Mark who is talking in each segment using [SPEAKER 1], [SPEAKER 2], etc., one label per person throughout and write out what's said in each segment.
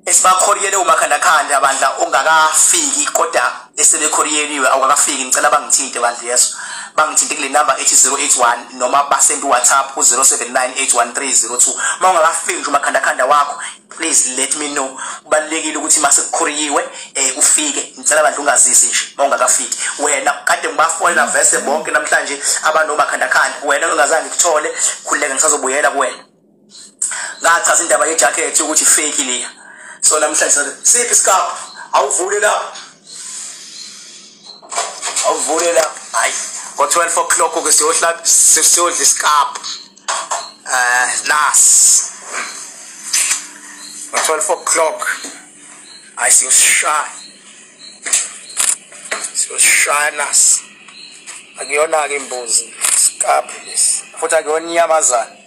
[SPEAKER 1] esibakhoriyele umakhandakhande abandla ongakafiki kodwa esebekhoriyeliwe awukakafiki ngicela bangithinte bandla yeso bangithinte kule number ethi 081 noma basend whatsapp ku 07981302 uma ungakafiki nje umakhandakhanda wakho please let me know kubalekile ukuthi mase kukhoriyiwe eh ufike ngicela bandla ungazisi nje uma ungakafiki wena kade ngibafolela vese bonke namhlanje abanomakhandakhanda wena ongazange kuthole khuleka ngisazobuyela kuwena ngachaza indaba yejacket ukuthi fake leya so namhlanje siphi isikabhu awuvule lapho awuvule lapho hayi ngo-12 o'clock ke siyohlaba siyodla isikabhu um eh, nas ngo-12 o'clock hayi siyoshaya siyoshaya nas akuyona-ke imbuzi isikabhu lesi futhi akuyona inyamazana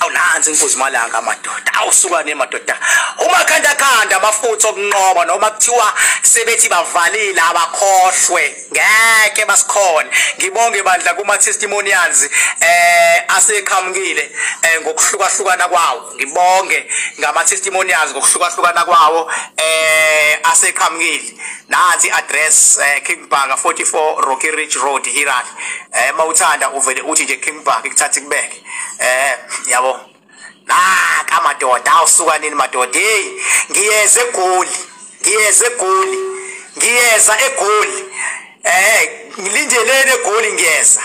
[SPEAKER 1] awunanzi inkuzi malanga amadoda awusukane madoda uma khanda khanda amafutha okunqoba noma kuthiwa sebethi bavalile abakhohlwe ngeke basikhona ngibonge bandla kuma testimonials eh aseqhamukile eh, ngokuhlukahlukana kwawo ngibonge ngama testimonials ngokuhlukahlukana kwawo eh aseqhamukile nansi address uh, eh, King Park 44 Rocky Ridge Road Hiran eh mawuthanda uvele uthi nje King Park ikuthatha kubeke eh yabo naka madoda awusuka nini madoda hey ngiyeze egoli ngiyeze egoli ngiyeza egoli eh ngilindelene egoli ngiyeza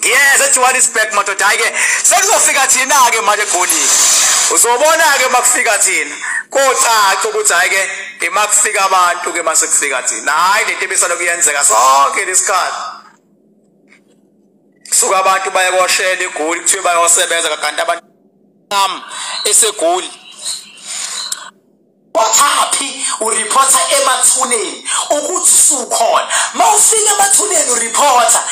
[SPEAKER 1] yes ejohannesburg madoda hayi ke sekuzofika thina-ke manje egolini uzobona-ke uma kufika thina kocaca ukuthi hhayi ke ima kufika abantu ke mase kufika thina hhayi lento ebisalokhu yenzeka sonke lesikhathi suka abantu baye koshela igoli kuthiwe bayosebenza kakanti abantu am esegoli kothaphi ureporta emathuneni ukuthi sukhona mawufika emathuneni ureporta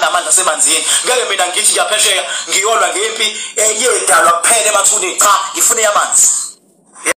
[SPEAKER 1] namandla semanzini ngeke mina ngithi ngiyaphesheya ngiyolwa ngempi eyedalwa eh, kuphela emathuneni cha ngifune yamanzi